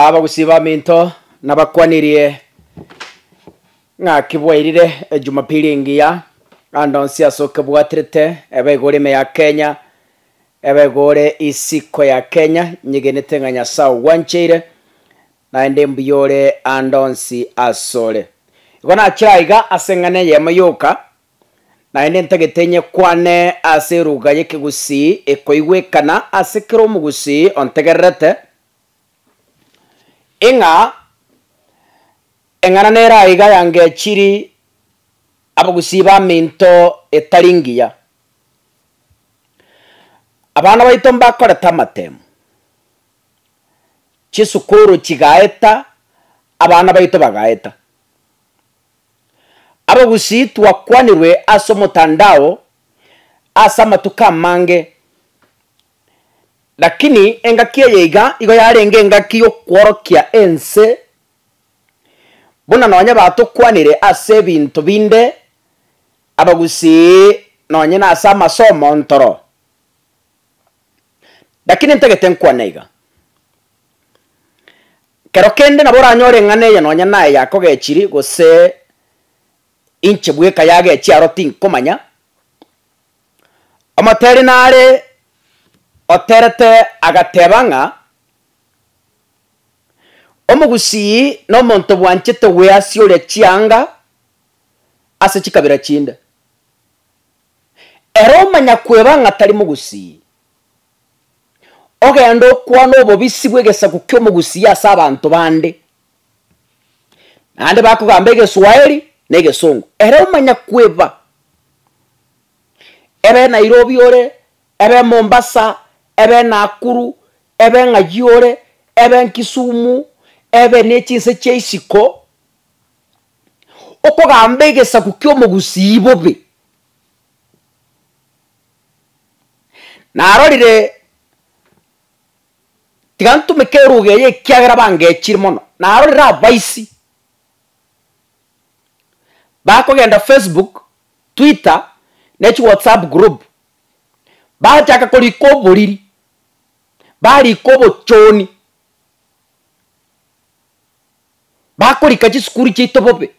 Abagusii baminto nabakwanirie ng'aki bwairire Ejumapili engiya, ande onsi ase okebwaterete, ebe igore ime ya Kenya, ebe igore isiko ya Kenya, nyegenete ng'a Nyasae ogwancheire, naende mbuya ore ande onsi asore. Igo nachire aiga ase eng'ana eyemo yoka, Naende ntagete inye kwane ase eruga y'ekegusii ekoigwekana ase kera omogusii ontegererete, ing'a eng'ana nere aiga yangechiri abagusii b'aminto etari ngiya. Abana baito mbakorete amatemu, chisukuru chigaeta, abana baito bagaeta. Abagusii twakwanirwe ase omotandao ase amatuko amange, lakini engaki eye iga igo yarenge engaki y'okworokia ense buna nonye batokwanire ase ebinto binde abagusii nonye na ase amasomo ntoro. Lakini ntagete nkwane iga. Kero kende nabo oranyore eng'ana eye nonya naye yakogechiri gose inche bweka yagechia aro tinkomanya. Omoteri nare oterete agateba ng'a Omogusii nomonto bwanchete gweasia oria chianga ase chikabira chinde. Ere omanya kweba ng'a tari Mogusii. ogenda okwane obobisi bw'egesaku ki'omogusia ase abanto bande, naende bakogamba egeswahili na egesongo, ere omanya kweba, ebe Nairobi ore, ebe Mombasa, ebe Nakuru, ebe ng'ayio ore, ebe Kisumu, ebe ne chinse chia isiko, okogamba egesaku ki'omogusiyi bobe. Narorire, tiga ntumeke eruga eye ekiagera bangechire mono, narorire abaisi bakogenda facebook, twitter, ne chiwhatsapp group, bachaka korika oboriri, barika obochoni, bakorika chisukuru chiaito bobe.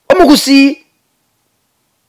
Omogusii.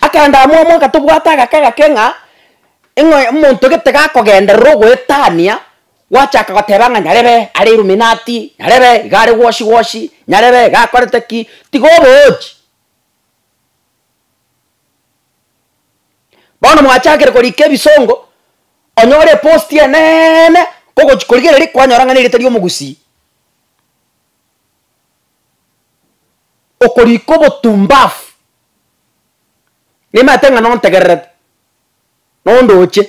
Akaenda amo amo akatobwata agake agake ng'a ng'a omonto gete gakogenderera ogoetania, gwachaka goteba ng'a nyarebe are illuminati, nyarebe iga are gwoshi gwoshi, nyarebe iga akorete ki, tiga oboochi. Bono mwachakire korika ebisongo, onyore eposti eneeene kogochi korigereria kwanyora ng'a nerieta ri'omogusii. okorika obotumbafu, nimaete ng'a nontegererete, nondoche,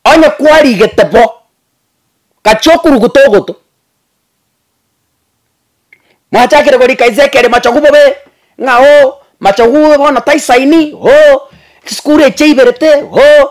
onye kwarigete bo, gachia okuruguta ogoto, mwachakire korika inse ekere machogu bobe, ng'a oo, machogu bono taisaini, oo, chisukuru echi chaiberete, oo,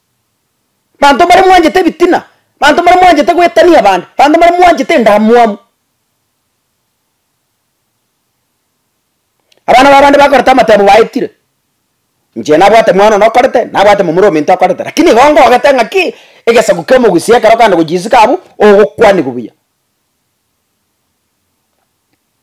Banto mbare mwanchete ebitina, banto mbare mwanchete goetania abande, banto mbare mwanchete endamwamu. Abana b'abande bakoreta amatemo baetire, inche nabwate mwana one okorete, nabwate momura ominto okorete, lakini igo ngogete ng'aki egesaku kia omogusii ekero okogenda gochia isiko abwo, ogokwanigwa buya.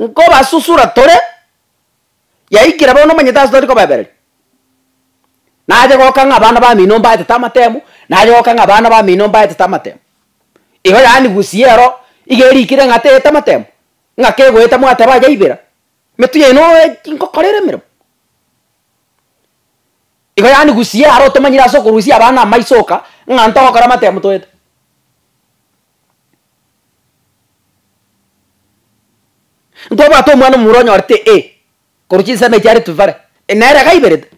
Nkobasusura tore, yaikire bono omanyete ase tari kobaebereria. Naye goka ng'a abana bamino mbaetete amatemo, naye goka ng'a abana bamino mbaetete amatemo. Igo yaani gusii ero, iga erikire ng'a teete amatemo, ng'a kegoeta mwateba aye aibera, emetu yaino ngokora ere emeremo. Igo yaani gusii aro otomanyire ase okorusia abana amaiso oka, ng'a ntogokora amatemo toete. Nkobwate omwana omomura onyorete e korwa chinsemo echi aretwe bare, nere iga aiberete.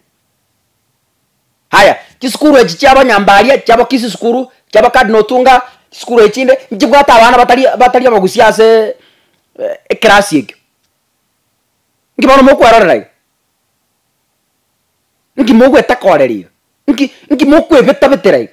Haya, chisukuru echi chia abanyambaria, chia abakisi sukuru, chia abacardinal otunga, chisukuru echi chinde, nchibwate abana batari batari abagusia ase ekerasi ekio. Nki bono mokwerorera iga? Nki mogweta korera iga? Nki nki mokwebeta betera iga?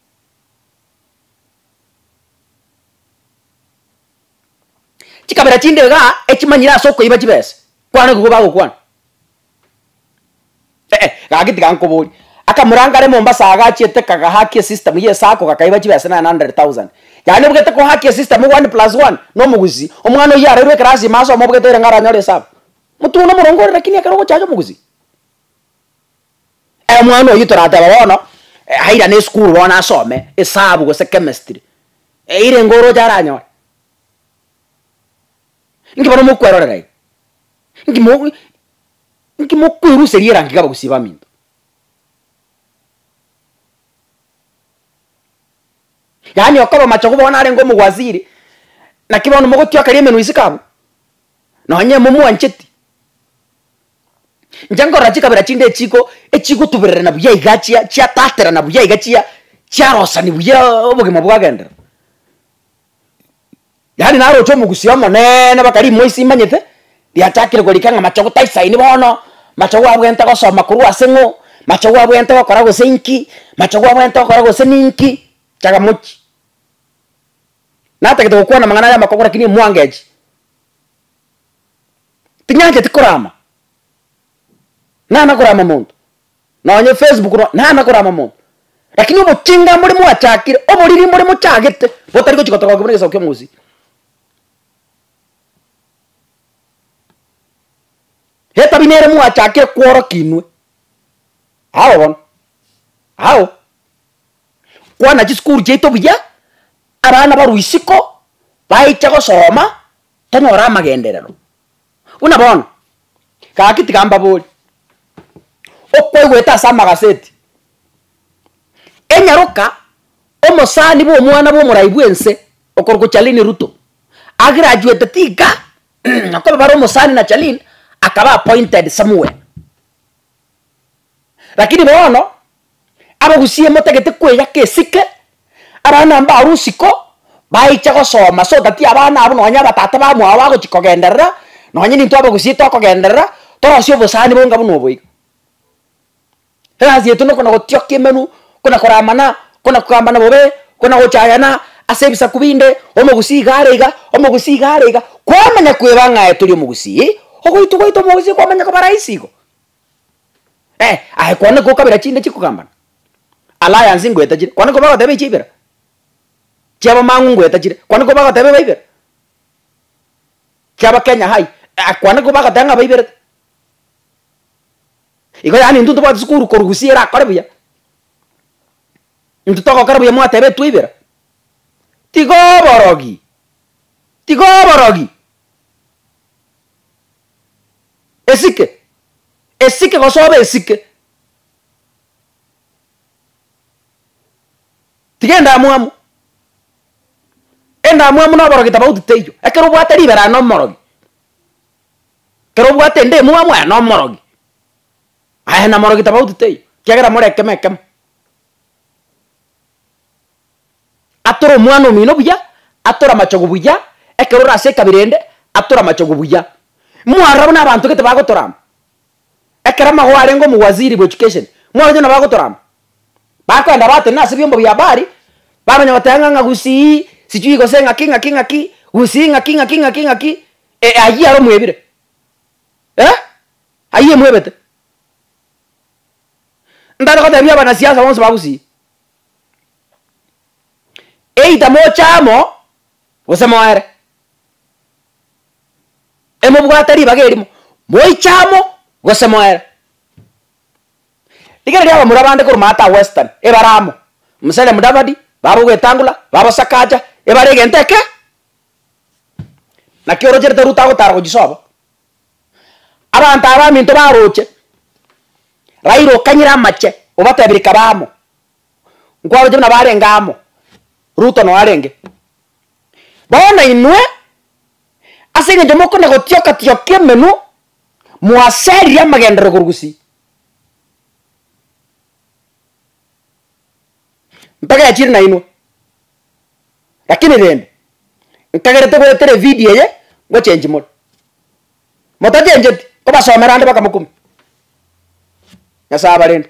Chikabera chinde iga echimanyire ase okoiba chibesa, kwana nigo bagokwana. Eeh, gaki tiga nkoborie, akamoranga are Mombasa iga achiete kaga haki esystem ya esacco gakaiba chibesa nine hundred thousand, yaani obwete ko haki esystem one plus one na omogusii, omwana oyio arairwe ekerasi ime asome obwete ere nigo aranyore esabu. Motwe one morongo ore lakini ekero ogochacha omogusii. Omwana oyio torateba bono airane esukuru bono asome esabu gose chemistry, eira engo oroche aranyore? Nki bono mokwerorera iga? Nki mo nki mokweruseria erangi iga abagusii baminto? Yaani okoba machogu bono narenge omogwaziri, naki bono mogotioka ria emenwa isiko abwo? Nonye momwancheti? Inche nkorora chikabera chinde echiko echigotubererana buya igaa chia chiataterana buya iga chia chiarosani buya obogima bwagenderera. Yaani naroche omogusia omoneene mpaka rimwe ase imanyete, riachakire korika ng'a mache gotaisaini bono, mache gwabwente gosoma korwa ase ng'o, mache gwabwente gokora gose inki, mache gwabwente gokora gose ninki, chagamochi. Natagete gokwana amang'ana aria amakong'u rakini emwango echi. Tinyancheti korama. Nana korama monto. Nonye Facebook no nana korama monto. Rakini obochinga mbore mwachakire, oboriri mbore mochagete, botari gochi gotorogokigwa buna egesaku ki'omosii. Etabia nere mwachakire kworokia inwe. Ao bono. Ao. Kwana chisukuru chiaito buya, abana barwa isiko, baicha gosoma. Tanyora amagenderero buna bono. Gaki tiga mbabori, okwaigwete ase amagaseti, enyaroka omosani bw'omwana bw'omorai bw'ense okorokwa Charlene Ruto, agraduate tiga, nakoba bare omosani na Charlene akaba appointed somewhere. Lakini bono, abagusie motagete kweyaka esike, abana mbaru isiko, baiche gosoma, so that abana abwo nonya abatata bamwao bagochi kogenderera, nonya nintwe abagusie tokogenderera, torosie obosani bonga buna obo iga. Egasi yaito nokona gotiokia emenwa, kona koramana, kona kogambana bobe, kona gochayana ase ebisaku binde, omogusi iga are iga, omogusi iga are iga, kwamanya kweba ng'aye tori omogusii, ogoitwa gwaito omogusi kwamanya koba rahisi igo. Eh, aye kwane gokabera chinde chikogambana. Alliance ngoetachire, kwane koba goteba echi ibera. Chiabamang'u ngoetachire, kwane koba goteba eba ibera. Chiaba Kenya High, eh, kwane koba goteba ng'a aba iberete. Igo yaani intwe ntobwate sukuru korusia erakore buya. Intwe togokora buya mwateba etwe ibera. Tiga oborogi, tiga oborogi. Esike, esike gosoba esike. Tiga endamwamu, endamwamu na oborogi tabauti teiyo. Ekero obwate ribero aye nomorogi, ekero obwate ende emwamu aye nomorogi, aye na morogi tabauti teiyo, ekiagera more ekemo ekemo. Atora omwana omino buya, atora amachogu buya, ekero ore ase ekabira ende, atora amachogu buya. Mwarora buna abanto gete bagotora amo. Ekero amagoro arenge omowaziri bw'education, mwarora onye nabagotora amo? Bakoenda batenena ase ebiombo bia habari, bamanya goteba ng'a ng'a gusii, sijui gose ng'aki ng'aki ng'aki, gusii ng'aki ng'aki ng'aki ng'aki, eh ayio aro omwebire. Eh, ayio emwebete. Ntare gotebia abanasiasa bonsi ba gusii. Either moche amo, gose moere. Emobwate ribaga erimo, moiche amo, gose moere. Rigira riria abamura bande koromata aa western, ebare amo, Musalia Mudavadi, babo Wetangula, babo Sakaja, ebare egento eke, naki orocherete Ruto agotara gochisoa bo. Abanto abaminto baroche, Raila okanyire amache, obatebire kabe amo, nkwaroche buna barenge amo, Ruto noyo arenge. Bono inwe, ase eng'encho mokona gotioka tioka emenwa, mwasaririe amagenderero korwa gusii. Ntogechire nainwe. Lakini rende nkagerete goetera evideo eye ngochenji more. Motachenjeti, kobasomera ande baka mokumi. Nyasae abarende.